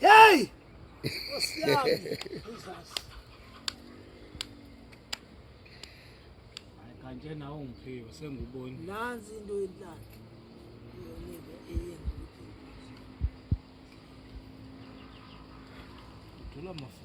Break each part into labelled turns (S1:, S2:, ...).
S1: Hey!
S2: Kanje nawe ungiphiwe senguboni. Nansi into
S1: yenhlaka. Yonike eyenza
S2: ukuthi. Uthola mafu.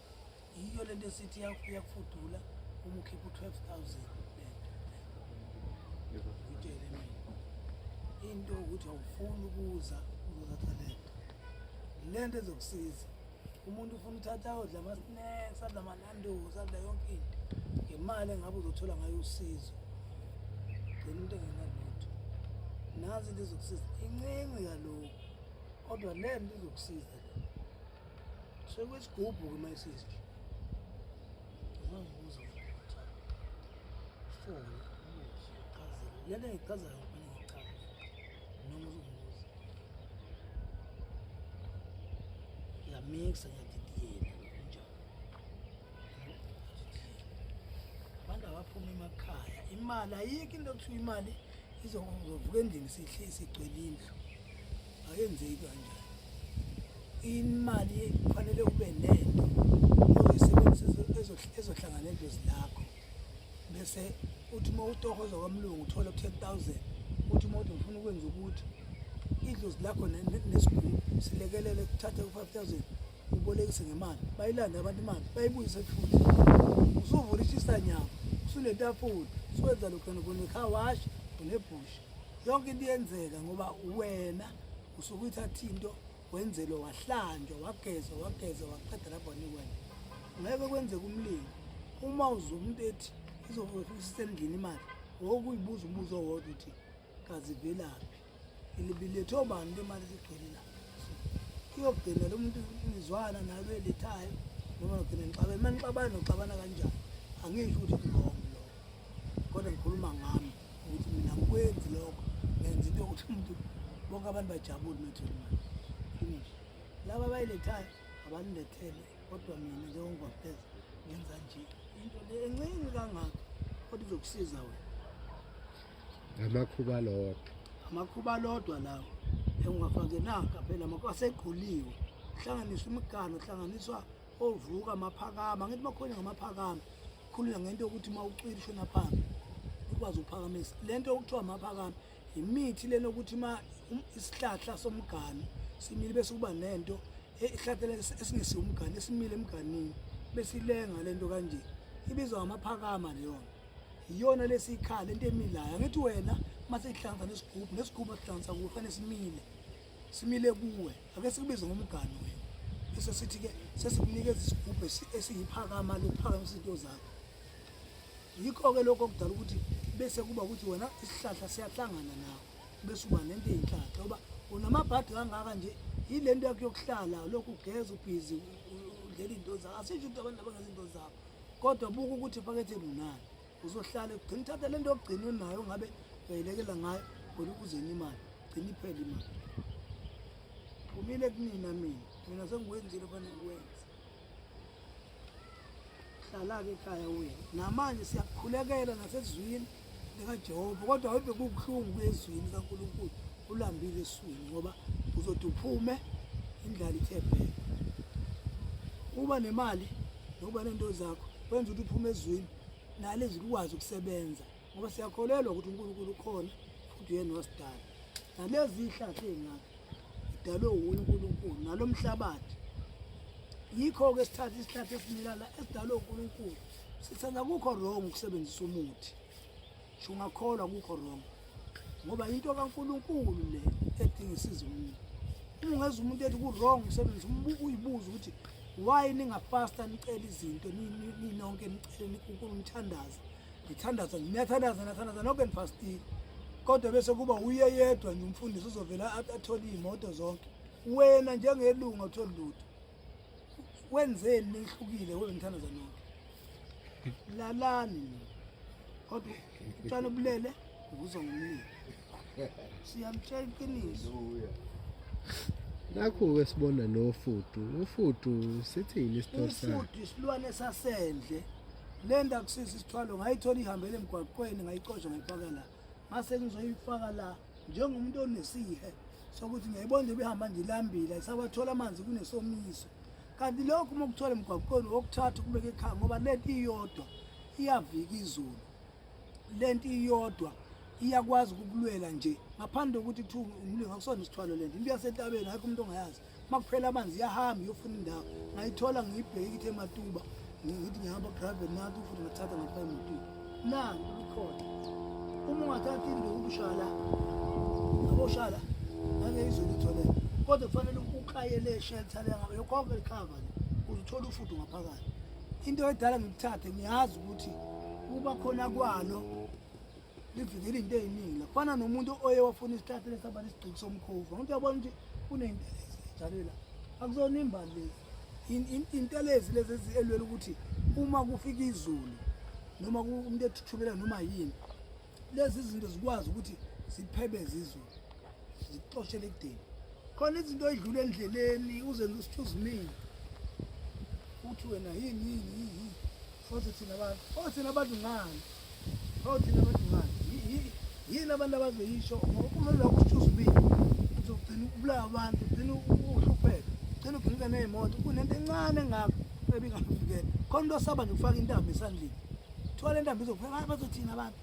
S1: yiyo lento esithi iyakufudula uma ukhipha u-twelve thousand ngitshele mina into ukuthi awufuni ukuza uzothatha lento lento ezokusiza umuntu ufuna uthatha odla ama-snacks adla amanandozi adla yonke into ngemali engabe uzothola ngayo usizo gcina into engenalutho nazi into ezokusiza incinci kalokhu kodwa le nto izokusiza le sekwesigubhu ke mayisisi ngizozibuza ukuthi foni ichazile lento engichazayo kufanele ngichaze noma uzongibuza ngiyamixa ngiyadidiyela kunjalo abantu abaphuma emakhaya imali ayikho into okuthiwa imali izovuka endlini sigcwele indlu akenzeki kanjani imali kufanele ube nento ozoyisebenzisa ezohlangana edlozi lakho bese uthi uma utohoza kwamlungu uthole u-ten thousand uthi uma uthi ngifuna ukwenza ukuthi idlozi lakho nesigulu silekelele kuthathe u-five thousand ubolekise ngemali bayilande abantu imali bayibuyise futhi usuvula ishisanyama usunetafula uswenza lokhu khona kunecar wash unebhusha yonke into iyenzeka ngoba wena usuke uyithatha into wenzelwe wahlanjwa wagezwa wagezwa waqeda lapho nikwena ngeke kwenzeka umlingo uma uze umuntu ethi izofisa endlini imali wokuyibuza umbuzo owodwa uthi kazivelaphi ilibilethe obani into imali sigcwele la iyogcina lo muntu izwana nalo elethayo noma ngigcina ngixabana uma ngixabana noxabana kanjani angisho ukuthi ngilongo lo kodwa ngikhuluma ngami ukuthi mina ngikwenzi lokho ngenza into yokuthi umuntu bonke abantu bajabule nothini manje finish laba abayilethayo abalilethele kodwa mina njengongwapheza ngenza nje into le encinci kangaka kodwa izokusiza wena amakhuba lodwa amakhuba lodwa lawo engingafake naka phela amakhuba asegquliwe kuhlanganiswa imigano kuhlanganiswa ovuka maphakama ngithi makhona ngamaphakama khulula ngento yokuthi uma ucwila ishona phambi ukwazi ukuphakamisa le nto okuthiwa maphakama yimithi lena ukuthi uma um, isihlahla somgani simile bese kuba nento ihlathela esingesiwo umgani esimile emganini besilenga le nto kanje ibizwa ngamaphakama leyona iyona lesikhala into emilayo angithi wena uma sihlanza nesigubhu nesigubhu asihlanza kuwe fanele simile simile kuwe ake sikubize ngomgani wena bese sithi-ke sesikunikeza isigubhu esiyiphakama lokuphakamisa into zakho yikho-ke lokho okudala ukuthi bese kuba ukuthi wena isihlahla siyahlangana nawe bese uba nento eyinhlahla oba unamabhadi kangaka nje yile nto yakho yokuhlala lokhu ugeza ubhizi udlela iy'nto zakho asisho ukuthi abantu abangenza iy'nto zakho kodwa buka ukuthi ephaketheni unani uzohlale ugcina uthatha lento ogcina unayo ngabe uyayilekela ngayo ngoba ukuzeni imali gcina iphele imali kumile kunina mina mina sengikwenzile fane ngikwenze hlala-ke ekhaya wena namanje siyakukhulekela nasezwini likajehova kodwa webe kubuhlungu kuyezwini kankulunkulu ulambile eswini ngoba uzothi uphume indlala ithe bheka uba nemali nokuba nento zakho kwenza ukuthi uphume ezwini nale zikwazi ukusebenza ngoba siyakholelwa ukuthi uNkulunkulu ukhona futhi uyena wasidala nalezi ihlathi ezingaka idalwe wuye uNkulunkulu nalomhlabathi yikho ke sithatha isihlathi esimilala esidalwe uNkulunkulu sithanda kukho wrong ukusebenzisa umuthi Ungakholwa kukho wrong ngoba into kaNkulunkulu le edinga isizo umuntu. Uma ungeza umuntu ethi ku-wrong umsebenzi uyibuza ukuthi why ningapasta nicela izinto ninonke nicele nikunkulu nithandaza nithandaza niyathandaza nathandaza nonke nifastile kodwa bese kuba uye yedwa nje umfundisi uzovela athole iy'moto zonke wena njengelunga uthole lutho wenzeni nihlukile wewe ngithanda zanonke lalani kodwa utshana ubulele uvuza ngomlilo siyamtshela iqiniso
S3: nakhu-ke sibona nofudu ufudu sithini isitori sakhe ufudu isilwane
S1: sasendle le nto akusisi isithwalo ngayithola ihambele emgwaqweni ngayicosha ngayifaka la mase ngizoyifaka la njengomuntu onesihe sokuthi ngiyayibona nje behamba nje ilambile ayisawathola amanzi kunesomiso kanti lokhu uma kuthola emgwaqweni wokuthatha ukubeka ekhaya ngoba lento iyodwa iyavika izulu lento iyodwa iyakwazi ukukulwela nje ngaphandle kokuthi kuthiwa umlingo akusona isithwalo lento into yasentabeni akho umuntu ongayazi uma kuphela amanzi iyahamba iyofuna indawo ngayithola ngiyibheki ithe matuba ngithi ngihamba private nathi futhi ngathatha ngapha emotweni nanti kukhona uma ungathathi indawo ukushala aboshala ngake izolitholela kodwa kufanele ukayele shelter lengaba yokhokho likhava le uzithola ufudu ngaphakathi into edala ngikuthathe ngiyazi ukuthi kuba khona kwalo livikela into eziningi kufana nomuntu oye wafuna isihlahla lesaba nesigqiki somkhovu umuntu uyabona ukuthi kuneyintelezi njalo la akuzona imbali lezi intelezi lezi eziyelwela ukuthi uma kufika izulu noma umuntu ethuthumela noma yini lezi zinto zikwazi ukuthi ziphebeze izulu zikuxoshele ekudeni khona izinto oyidlula endleleni uze lusithu uzimile uthi wena yini yini yini futhi thina abantu o oh, thina abantu ngani o oh, thina abantu ngani yini abantu abazoyisho uma lokho usithu uzimile uzogcina ukubulawa abantu ugcina uhlupheka ugcina uginika ney'moto kunento encane engako ebingakuvikela khona into osaba nje ukufaka intambo esandleni kuthiwa le ntambo izokuphela bazothina abantu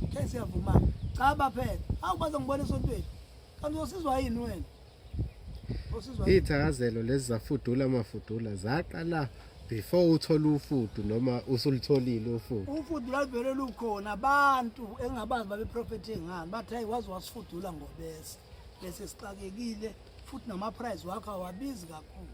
S1: Ngeke siyavuma. Cha baphela. Hawu bazongibona esontweni. Kanti usizwa yini wena? Usizwa. Ithakazelo
S3: lezi zafudula amafudula zaqala before uthole ufudu noma usulitholile ufudu ufudu lalivele
S1: lukhona abantu engabazi babeprofethe ngani bathi hayi waze wasifudula ngobese bese sixakekile futhi namaprize wakho awabizi kakhulu